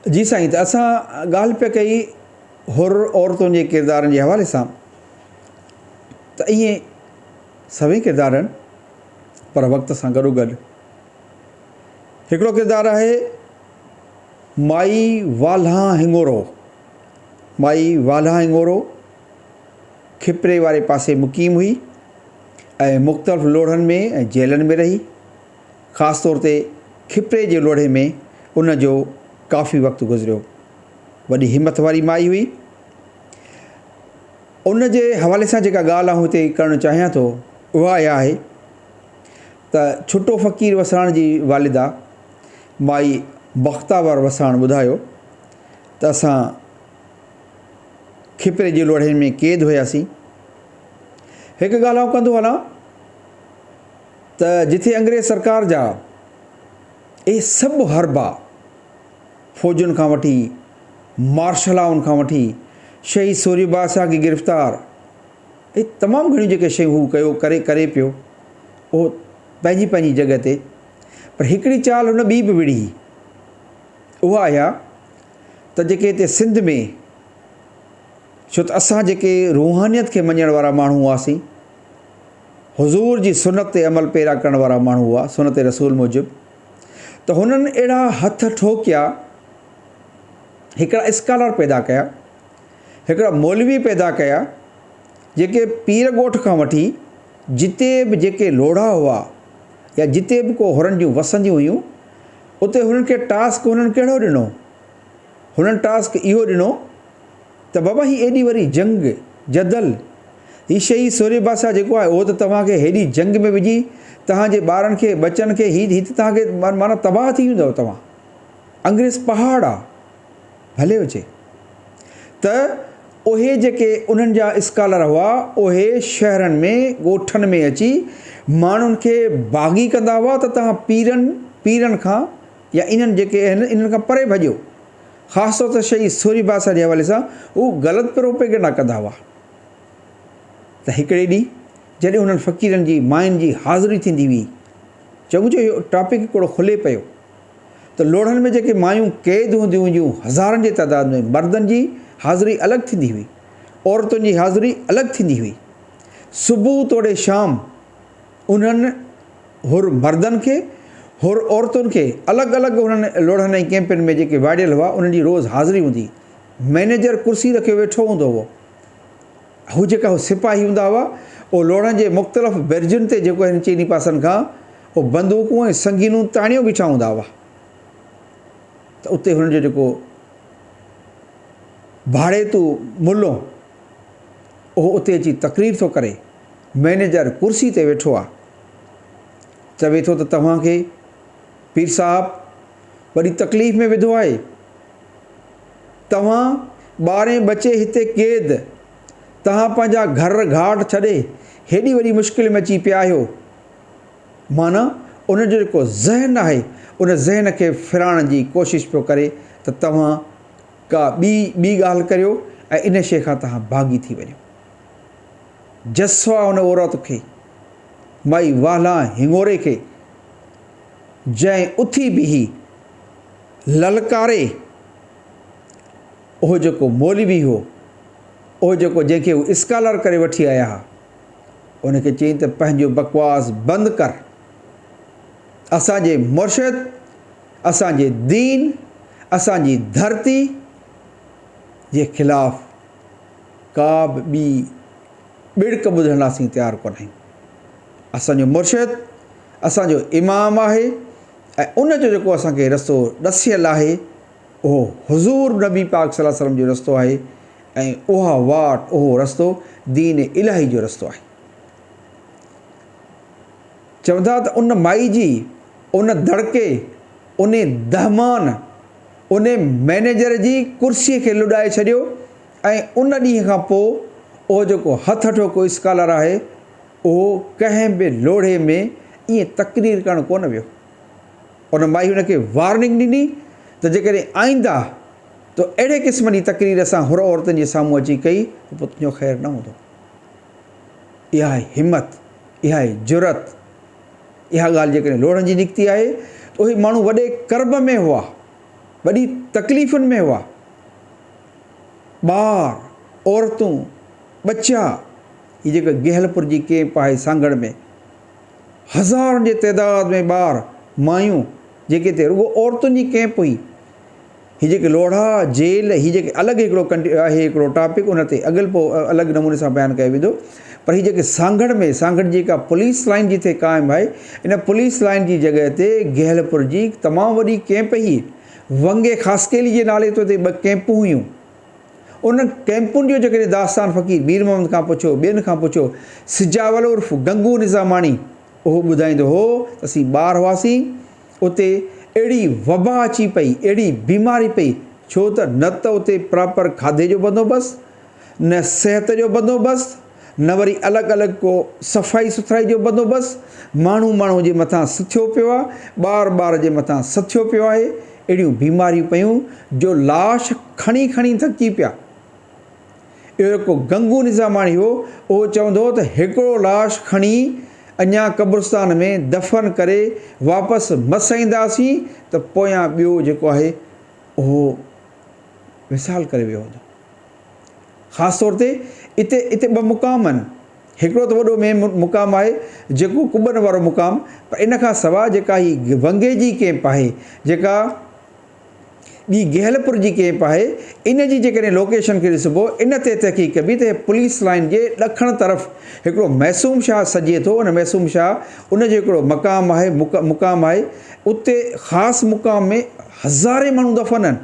جي سائين ته اسان ڳالهه پئي ڪئي حر عورتن جي ڪردارن جي حوالي سان ته اهي سوين ڪردار آهن پر وقت سان گڏو گڏ هڪڙو ڪردار آهي مائي والها هنگورو مائي والها هنگورو کپري واري پاسي مقيم هئي ۽ مختلف لوڙهن ۾ ۽ جيلن ۾ رهي خاص طور تي کپري جي لوڙهي ۾ ان جو ڪافي وقت گذريو. وڏي همٿ واري مائي هئي. ان جي حوالي سان جيڪا ڳالهه آئون هتي ڪرڻ چاهيان ٿو اها اها آهي ته ڇٽو فقير وساڻ جي والده مائي بختاور وساڻ ٻڌايو ته اسان کپري جي لوڙهين ۾ قيد هياسين. هڪ ڳالهه آئون ڪندو هلان ته جتي انگريز سرڪار جا اهي سڀ حربا فوجن کان وٺي مارشلاون کان وٺي شهيد سوري بادشاهه کي گرفتار اهي تمام گهڻيون جيڪي شيون هو ڪيو ڪري ڪري پيو اهو پنهنجي پنهنجي جڳهه تي پر هڪڙي چال هن ٻي به وڙهي اها اها ته جيڪي هتي سنڌ ۾ ڇو ته اسان جيڪي روحانيت کي مڃڻ وارا ماڻهو هئاسين حضور جي سنت تي عمل پيرا ڪرڻ وارا ماڻهو هئا سنت رسول موجب ته هنن اهڙا هٿ ٺوڪيا هڪڙا اسڪالر پيدا ڪيا هڪڙا مولوي پيدا ڪيا جيڪي پير ڳوٺ کان وٺي جتي به جيڪي لوڙها هئا يا جتي به ڪو هرن جون وسنديون هيون اتي هنن کي ٽاسڪ هنن ڪهڙو ڏنو هنن ٽاسڪ اهو ڏنو ته بابا هي ايڏي وڏي جنگ، جدل، هي شهيد سورهيه بادشاهه جيڪو آهي اهو ته توهان کي هيڏي جنگ ۾ وجهي توهان جي ٻارن کي ٻچن کي هي هي ته توهان کي معنيٰ تباهه ٿي ويندؤ توهان انگريز پهاڙ آ ڀلي هجي ته اهي جيڪي انهن جا اسڪالر هئا اهي شهرن ۾ ڳوٺن ۾ اچي ماڻهن کي باغي ڪندا هئا ته توهان پيرن پيرن کان يا انهن جيڪي آهن انهن کان پري ڀڄو خاص طور تي شهيد سوري باسا جي حوالي سان هو غلط پروپيگنڊا ڪندا هئا ته هڪڙي ڏينهن جڏهن انهن فقيرن جي ماين جي حاضري ٿيندي هئي چونڪ جو اهو ٽاپڪ هڪڙو کلي پيو ته لوڙهن ۾ جيڪي مايون قيد هونديون هيون هزارن جي تعداد ۾ مردن جي حاضري الڳ ٿيندي هئي عورتن جي حاضري الڳ ٿيندي هئي صبح توڙي شام انهن حر مردن کي حر عورتن کي الڳ الڳ انهن لوڙهن ۽ ڪئمپن ۾ جيڪي واڙيل هئا انهن جي روز حاضري هوندي مئنيجر ڪرسي رکيو ويٺو هوندو هو هو جيڪا هو سپاهي هوندا هئا اهو لوڙهن جي مختلف برجن تي جيڪو هن چئني پاسن کان اهو بندوقون ۽ سنگينون تاڻيو بيٺا هوندا هئا ته اتي هن جو جيڪو ڀاڙيتو ملو اهو اتي اچي تقرير ٿو ڪري مئنيجر ڪرسي تي ويٺو آ. چوي ٿو ته توهان کي پير صاحب وڏي تڪليف ۾ وڌو آهي. توهان ٻارهين ٻچي هتي قيد، توهان پنهنجا گهر گهاٽ ڇڏي هيڏي وڏي مشڪل ۾ اچي پيا آهيو. معنيٰ ان جو جيڪو ذهن آهي ان ذهن کي ڦيرائڻ جي ڪوشش پيو ڪري ته توهان ڪا ٻي ٻي ڳالهه ڪريو ۽ ان شيء کان توهان باغي ٿي وڃو. جسوا ان عورت کي، مئي والهان هڱوري کي، جنهن اٿي بيهي للڪاري، اهو جيڪو مولوي هو، اهو جيڪو جنهن کي هو اسڪالر ڪري وٺي آيا ها، ان کي چيائين ته پنهنجو بڪواس بند ڪر. اسان جي مرشد، اسان جي دين، اسان جي ڌرتي جي خلاف ڪا به ٻي ٻڙڪ ٻڌڻ لاء اسين تيار ڪونه آهيون. اسان جو مرشد اسان جو امام آهي ۽ ان جو جيڪو اسان کي رستو ڏسيل آهي اهو حضور نبي پاڪ صلي الله عليه وسلم جو رستو آهي ۽ اها واٽ اهو رستو دين الاهي جو رستو آهي. چون ٿا ته ان مائي جي ان دڙڪي انهي دهمان انهي مئنيجر جي ڪرسي کي لڏائي ڇڏيو ۽ ان ڏينهن کان پوء اهو جيڪو هٿ اٺوڪو اسڪالر آهي اهو ڪنهن به لوڙهي ۾ ائين تقرير ڪرڻ ڪونه ويو. ان مائي هن کي وارننگ ڏني ته جيڪڏهن آئينده تو اهڙي قسم جي تقرير اسان حر عورتن جي سامهون اچي ڪئي ته پوء تنهنجو خير نه هوندو. اهائي همت، اهائي جرئت! اها ڳالهه جيڪڏهن لوڙهن جي نڪتي آهي ته اهي ماڻهو وڏي ڪرب ۾ هئا، وڏي تڪليفن ۾ هئا. ٻار، عورتون، ٻچا هي جيڪي گهيلپور جي ڪيمپ آهي سانگهڙ ۾ هزارن جي تعداد ۾ ٻار، مايون جيڪي هتي رڳو عورتن جي ڪيمپ هئي هي جيڪي لوڙها، جيل، هي جيڪي الڳ هڪڙو ڪنٽ آهي هڪڙو ٽاپڪ ان تي اڳل پوء الڳ نموني سان بيان ڪيو ويندو پر هي جيڪي سانگهڙ ۾ سانگهڙ جيڪا پوليس لائين جتي قائم آهي ان پوليس لائين جي جڳهه تي گهيلپور جي هڪ تمام وڏي ڪيمپ هئي ونگي خاصخيلي جي نالي تي اتي ٻه ڪيمپون هيون انهن ڪيمپن جو جيڪڏهن داستان فقير مير محمد کان پڇو ٻين کان پڇو سجاول عرف گنگو نظاماڻي اهو ٻڌائيندو هو ته اسين ٻار هئاسين اتي اهڙي وبا اچي پئي، اهڙي بيماري پئي، ڇو ته نه ته اتي پراپر کاڌي جو بندوبست، نه صحت جو بندوبست، نه وري الڳ الڳ ڪو صفائي سٿرائي جو بندوبست، ماڻهو ماڻهو جي مٿان سٿيو پيو آهي، ٻار ٻار جي مٿان سٿيو پيو آهي، اهڙيون بيماريون پيون جو لاش کڻي کڻي ٿڪجي پيا. اهو هڪ گنگو نظاماڻي هو، اهو چوندو هو ته هڪڙو لاش کڻي اڃا قبرستان ۾ دفن ڪري واپس مس اينداسين ته پويان ٻيو جيڪو آهي اهو وصال ڪري ويو هوندو. خاص طور تي اتي اتي ٻه مقام آهن، هڪڙو ته وڏو مين مقام آهي جيڪو قبن وارو مقام پر ان کان سواء جيڪا هي ونگي جي ڪيمپ آهي جيڪا ٻي گهيلپور جي ڪيمپ آهي ان جي جيڪڏهن لوڪيشن کي ڏسبو ان تي تحقيق ڪبي ته هي پوليس لائين جي ڏکڻ طرف هڪڙو معصوم شاهه سجهي ٿو ان معصوم شاهه ان جو هڪڙو مقام آهي مقام آهي اتي خاص مقام ۾ هزارين ماڻهو دفن آهن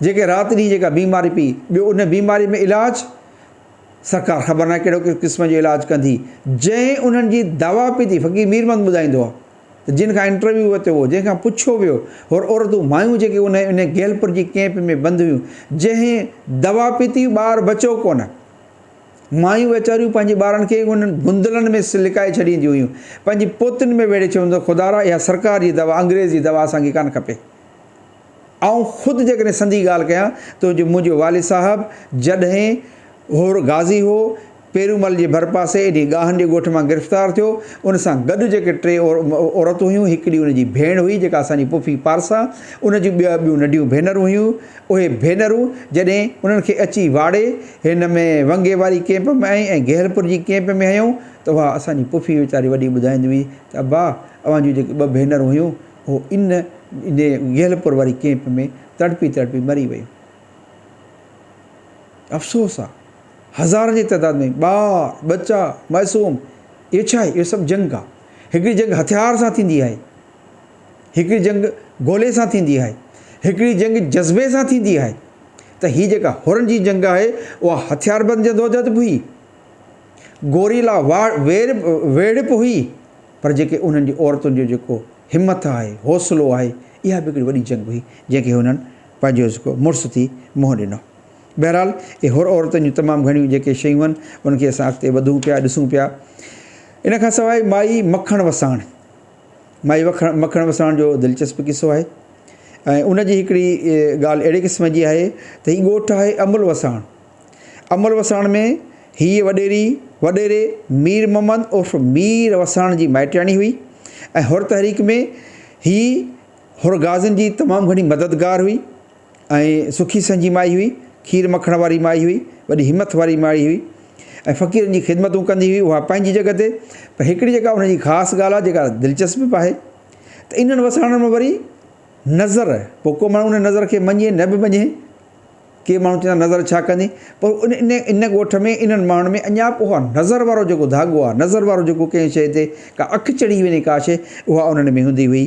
جيڪي رات ڏينهن جيڪا بيماري پي ٻيو ان بيماري ۾ علاج سرڪار خبر ناهي ڪهڙو قسم جو علاج ڪندي جنهن انهن جي دوا پي ٿي فقير ميرمند ٻڌائيندو آهي جن کان انٽرويو ورتو ويو، جنهن کان پڇيو ويو، هو عورتون، مايون جيڪي انهيء انهيء گيلپر جي ڪئمپ ۾ بند هيون، جنهن دوا پيتي هئي، ٻار بچو ڪونه. مايون ويچاريون پنهنجي ٻارن کي انهن گندلن ۾ لڪائي ڇڏينديون هيون. پنهنجي پوتين ۾ ويڙهي ڇڏينديون هيون ته خدارا اها سرڪار جي دوا، انگريز جي دوا اسان کي ڪانه کپي. آئون خود جيڪڏهن سندي ڳالهه ڪيان ته جو منهنجو والد صاحب جڏهن هور غازي هو، پيرومل جي ڀرپاسي ايڏي ڳاهن جي ڳوٺ مان گرفتار ٿيو، ان سان گڏ جيڪي ٽي عورتون هيون، هڪڙي ان جي ڀيڻ هئي جيڪا اسان جي پڦي پارسا، ان جون ٻه ٻيون ننڍيون ڀينرون هيون، اهي ڀينرون جڏهن انهن کي اچي واڙي هن ۾ ونگي واري ڪيمپ ۾ ۽ گهيلپور جي ڪيمپ ۾ هنيائون ته اها اسان جي پڦي ويچاري وڏي ٻڌائيندي هئي ته ابا اوهان جون جيڪي ٻه ڀينرون هيون هو ان انهيء گهلپور واري ڪيمپ ۾ تڙپي تڙپي مري ويو. افسوس آ. هزارن جي تعداد ۾ ٻار، ٻچا، معصوم. اهو ڇا آهي؟ اهو سڀ جنگ آ. هڪڙي جنگ هٿيار سان ٿيندي آهي. هڪڙي جنگ گولي سان ٿيندي آهي. هڪڙي جنگ جذبي سان ٿيندي آهي. ته هي جيڪا حرن جي جنگ آهي، اها هٿياربند جدوجهد به هئي. گوريلا ويڙهه ويڙهه به هئي پر جيڪي انهن جي عورتن جو جيڪو همٿ آهي حوصلو آهي اها به هڪڙي وڏي جنگ هئي جنهن کي هنن پنهنجو جيڪو مڙس ٿي منهن ڏنو بهرحال اهي حر عورتن جون تمام گهڻيون جيڪي شيون هن ان کي اسان اڳتي وڌون پيا ڏسون پيا ان کان سواء مائي مکڻ وساڻ مائي وکڻ مکڻ وساڻ جو دلچسپ قصو آهي ۽ ان جي هڪڙي ڳالهه اهڙي قسم جي آهي ته هي ڳوٺ آهي امل وساڻ امر وساڻ ۾ هيء وڏيري وڏيري مير محمد عرف مير وساڻ جي مائٽياڻي هئي ۽ حر تحريڪ ۾ هيء حر غازين جي تمام گهڻي مددگار هئي ۽ سکي سهنجي مائي هئي، کير مکڻ واري مائي هئي، وڏي همٿ واري مائي هئي ۽ فقيرن جي خدمتون ڪندي هئي اها پنهنجي جڳهه تي پر هڪڙي جيڪا ان جي خاص ڳالهه آهي جيڪا دلچسپ به آهي ته انهن وساڻن ۾ وري نظر پوء ڪو ماڻهو ان نظر کي مڃي نه به مڃي ڪي ماڻهو چوندا نظر ڇا ڪندي پر ان ان ان ڳوٺ ۾ انهن ماڻهن ۾ اڃا به اها نظر وارو جيڪو ڌاڳو آهي نظر وارو جيڪو ڪنهن شيء تي ڪا اک چڙهي وڃي ڪا شيء اها انهن ۾ هوندي هئي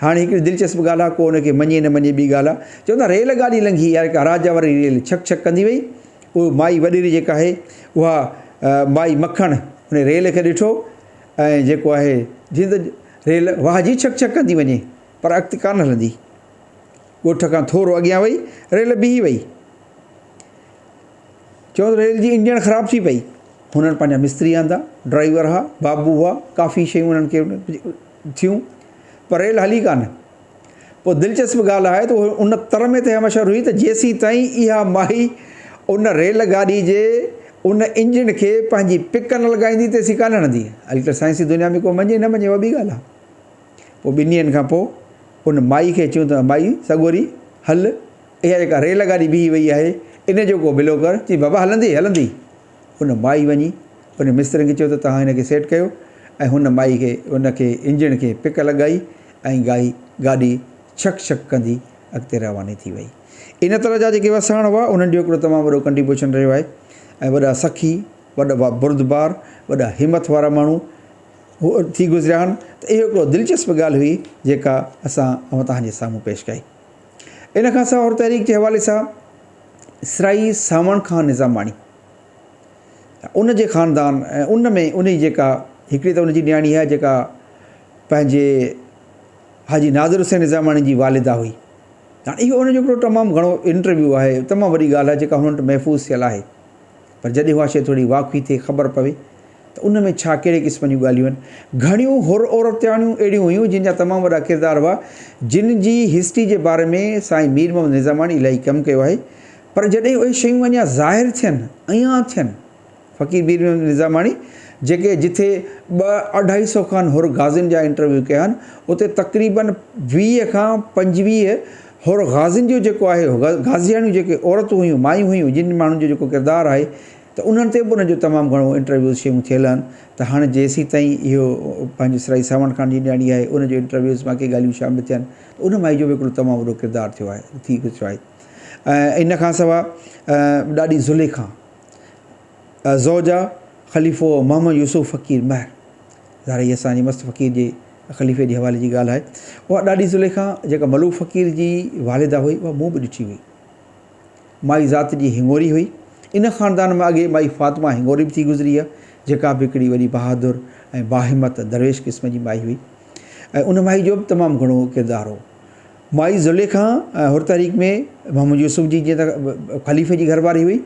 هاڻي هڪڙي دلچسپ ڳالهه آهي ڪو ان کي مڃي نه مڃي ٻي ڳالهه آهي چوندا ريل گاڏي لنگهي يا ڪا راجا واري ريل ڇڪ ڇڪ ڪندي وئي پوء مائي وڏيري جيڪا آهي اها مائي مکڻ ان ريل کي ڏٺو ۽ جيڪو آهي جيئن ته ريل واهجي ڇڪ ڇڪ ڪندي وڃي پر اڳتي ڪانه هلندي ڳوٺ کان ٿورو اڳيان وئي ريل بيهي وئي. چون ته ريل جي انجڻ خراب ٿي پئي. هنن پنهنجا مستري آندا، ڊرائيور ها، بابو هئا، ڪافي شيون هنن کي ٿيون، پر ريل هلي ڪانه. پوء دلچسپ ڳالهه آهي ته اهي ان تر ۾ تهيا مشهور هئي ته جيسيتائين اها مائي ان ريل گاڏي جي ان انجڻ کي پنهنجي پڪ نه لڳائيندي تيسين ڪانه هڻندي. هلڪي سائنسي دنيا ۾ ڪو مڃي نه مڃي اها ٻي ڳالهه آهي. پوء ٻن ڏينهن کان پوء ان مائي کي چيون ته مائي سڳوري هل، اها جيڪا ريل گاڏي بيهي ويئي آهي، ان جو ڪو بلو ڪر. چيائين، بابا هلندي هلندي. ان مائي وڃي ان مسترين کي چيو ته توهان هن کي سيٽ ڪيو ۽ هن مائي کي ان کي انجڻ کي پڪ لڳائي ۽ گائي گاڏي ڇڪ ڇڪ ڪندي اڳتي رواني ٿي ويئي. ان طرح جا جيڪي وساڻ هئا، انهن جو هڪڙو تمام وڏو ڪنٽريبيوشن رهيو آهي ۽ وڏا سخي، وڏا بردبار، وڏا همٿ وارا ماڻهو هو ٿي گذريا هن ته اهو هڪڙو دلچسپ ڳالهه هئي جيڪا اسان اوهتان جي سامهون پيش ڪئي. ان کان سواء حر تحريڪ جي حوالي سان سرائي سانوڻ کان نظاماڻي ان جي خاندان ۽ ان ۾ انهي جيڪا هڪڙي ته ان جي نياڻي اها جيڪا پنهنجي حاجي نادر حسين نظاماڻي جي والده هئي هاڻي اهو ان جو هڪڙو تمام گهڻو انٽرويو آهي تمام وڏي ڳالهه آهي جيڪا هن وٽ محفوظ ٿيل آهي. پر جڏهن اها شيء ٿوري واقفي ٿئي، خبر پوي ته ان ۾ ڇا ڪهڙي قسم جون ڳالهيون آهن. گهڻيون حر عورتياڻيون اهڙيون هيون، جن جا تمام وڏا ڪردار هئا، جن جي هسٽري جي باري ۾ سائين مير محمد نظاماڻي الاهي ڪم ڪيو آهي، پر جڏهن اهي شيون اڃا ظاهر ٿين، عيان ٿين، فقير مير محمد نظاماڻي جيڪي جٿي ٻه اڍائي سئو کن حر غازين جا انٽرويو ڪيا آهن، اتي تقريبن ويهه کان پنجويهه هور غازين جو جيڪو آهي غازياڻيون جيڪي عورتون هيون مايون هيون جن ماڻهن جو جيڪو ڪردار آهي ته انهن تي به انهن جو تمام گهڻو انٽرويوز شيون ٿيل آهن ته هاڻي جيسين تائين اهو پنهنجي سرائي ساوڻ خان جي نياڻي آهي ان جو انٽرويوز باقي ڳالهيون شامل ٿين ته ان مائي جو به هڪڙو تمام وڏو ڪردار ٿيو آهي ٿي گذريو آهي ان کان سوا ڏاڏي زليخا زوجا خليفو محمد يوسف فقير مهر ظاهر هي اسان جي مست فقير جي خليفي جي حوالي جي ڳالهه آهي. اها ڏاڏي زليخا جيڪا ملوڪ فقير جي والده هئي اها مون به ڏٺي هئي. مائي ذات جي هڱوري هئي. ان خاندان ۾ اڳي مائي فاطمه هڱوري به ٿي گذري آهي جيڪا به هڪڙي وڏي بهادر ۽ باهمت درويش قسم جي مائي هئي ۽ ان مائي جو به تمام گهڻو ڪردار هو. مائي زليخا ۽ حر تحريڪ ۾ محمد يوسف جي جيئن ته خليفي جي گهر واري هئي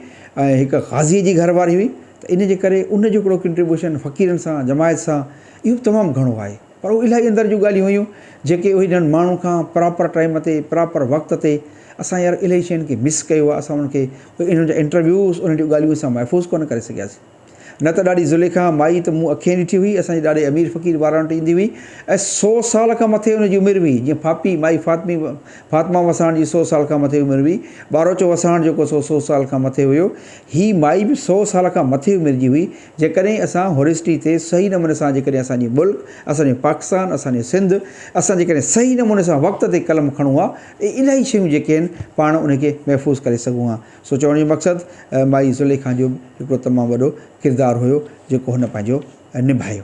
۽ هڪ قاضيء جي گهر واري هئي ته ان جي ڪري ان جو هڪڙو ڪنٽريبيوشن فقيرن سان جماعت سان اهو به تمام گهڻو آهي پر اهو الاهي اندر جون ڳالهيون هيون جيڪي اهي جن ماڻهن کان پراپر ٽائيم تي پراپر وقت تي اسان يار الاهي شين کي مس ڪيو آهي اسان ان کي انهن جا انٽرويوز انهن جون ڳالهيون اسان محفوظ ڪونه ڪري سگهياسين. نه ته ڏاڏي زليخا، مائي، ته مون اکئين ڏٺي هئي، اسان جي ڏاڏي امير فقير واران وٽ ايندي هئي ۽ سو سال کان مٿي ان جي عمر هئي، جيئن ڦاپي، مائي فاطمي، فاطمه وساڻ جي سو سال کان مٿي عمر هئي، ٻاروچو وساڻ جيڪو سو سو سال کان مٿي هيو، هي مائي به سو سال کان مٿي عمر جي هئي، جيڪڏهن اسان هرسٽي تي صحيح نموني سان جيڪڏهن اسان جي ملڪ، اسان جو پاڪستان، اسان جو سنڌ، اسان جيڪڏهن صحيح نموني سان وقت تي قلم کڻون ها ته الائي شيون جيڪي آهن پاڻ ان کي محفوظ ڪري سگهون ها. سو چوڻ جو مقصد مائي زليخا جو به هڪڙو تمام وڏو ڪردار هيو جيڪو هن پنهنجو نڀايو.